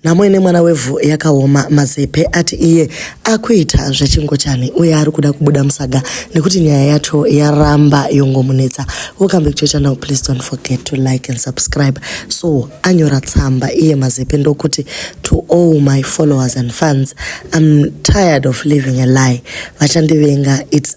Nhamo ine mwana wevhu yakaoma, Mazepe ati iye akuita zvechingochani uye ari kuda kubuda musaga nekuti nyaya yacho yaramba yongomunetsa. Welcome back to your channel, please don't forget to like and subscribe. So anyora tsamba iye Mazepe ndokuti to all my followers and fans, I'm tired of living a lie. Vachandivenga, it's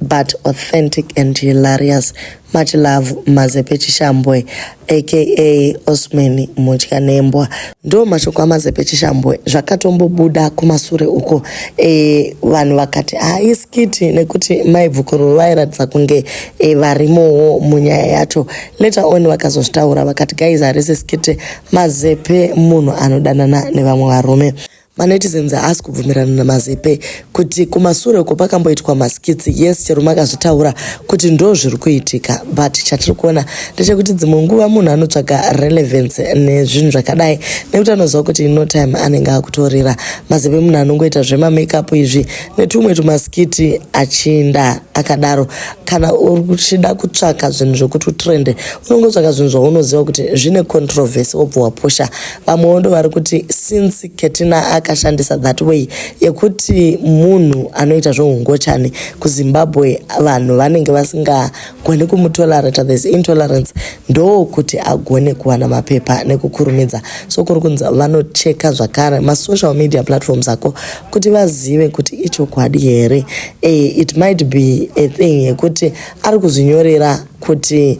but authentic and hilarious much love mazepe chishambwe aka osman mutya nembwa ndo mashoko amazepe chishambwe zvakatombobuda kumasure uko e, vanhu vakati haiskiti ah, nekuti maibvukururu vairatidza kunge e, varimowo munyaya yacho later on vakazozvitaura vakati guys harisi skiti mazepe munhu anodanana nevamwe varume Manetizens haasi kubvumirana naMazepe kuti kumasure uko pakamboitwa maskits yes chero makazvitaura kuti ndo zviri kuitika but chatiri kuona ndechekuti dzimwe nguva munhu anotsvaga relevance nezvinhu zvakadai nekuti anoziva kuti ino time anenge akutorira Mazepe munhu anongoita zvemamakeup izvi netumwe tumaskiti achinda akadaro kana uchida kutsvaka zvinhu zvekuti utrende unongotsvaka zvinhu zvaunoziva kuti zvine controversy wobva wapusha vamwewo ndovari kuti since ketina akashandisa that way yekuti munhu anoita zveungochani kuzimbabwe vanhu vanenge vasingagoni kumutolerata this intolerance ndo kuti agone kuwana mapepa nekukurumidza so kuri kunzi vanocheka zvakare masocial media platforms ako kuti vazive kuti ichokwadi here e, it might be a thing yekuti ari kuzvinyorera kuti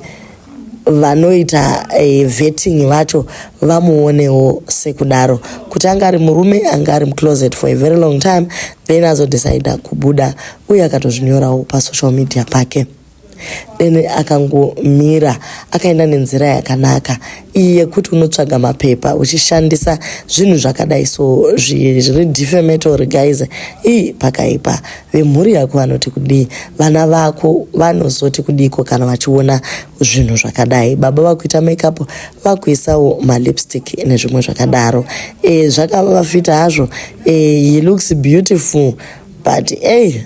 vanoita eh, vetting vacho vamuonewo sekudaro kuti anga ari murume anga ari mucloset for a very long time then azodecida kubuda uye akatozvinyorawo pasocial media pake then akangomira akaenda nenzira yakanaka iyi yekuti unotsvaga mapepa uchishandisa zvinhu zvakadai so zviri defamatory guys ii pakaipa Vemhuri yako vanoti kudii? Vana vako vanozoti kudiiko kana vachiona zvinhu zvakadai? Baba vakuita makeup, vakuisawo malipstick nezvimwe zvakadaro. E, zvakava vafita hazvo. E, he looks beautiful but ey eh,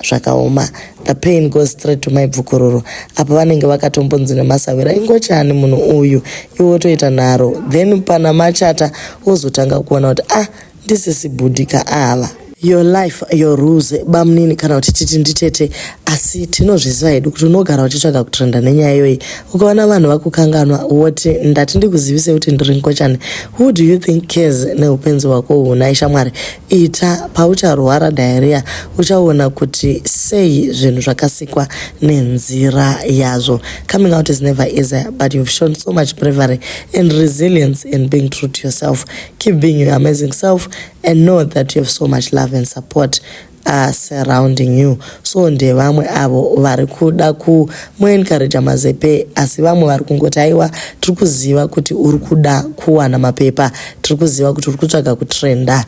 zvakaoma the pain goes straight to my bvukururu apa vanenge vakatombonzi nemasavira ingochani munhu uyu iwe toita nharo then pana machata wozotanga kuona kuti ah ndisisi bhudhika ava. Your life your rules bamnini kana kuti titi nditete asi tinozviziva hedu kuti unogara uchitsvaga kutrenda nenyaya iyoyi ukaona vanhu vakukanganwa woti ndati ndikuzivise kuti ndiri nkochani who do you think cares neupenzi hwako uhu nhai shamwari ita paucharwara diarrhea uchaona kuti sei zvinhu zvakasikwa nenzira yazvo coming out is never easy but you've shown so much bravery and resilience in being true to yourself Keep being your amazing self and know that you have so much love and support uh, surrounding you so ndevamwe avo vari kuda kumuencouraja mazepe asi vamwe vari kungoti aiwa tiri kuziva kuti uri kuda kuwana mapepa tiri kuziva kuti uri kutsvaga kutrenda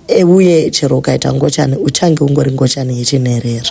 e, uye chero ukaita ngochani uchange ungori ngochani yechinherera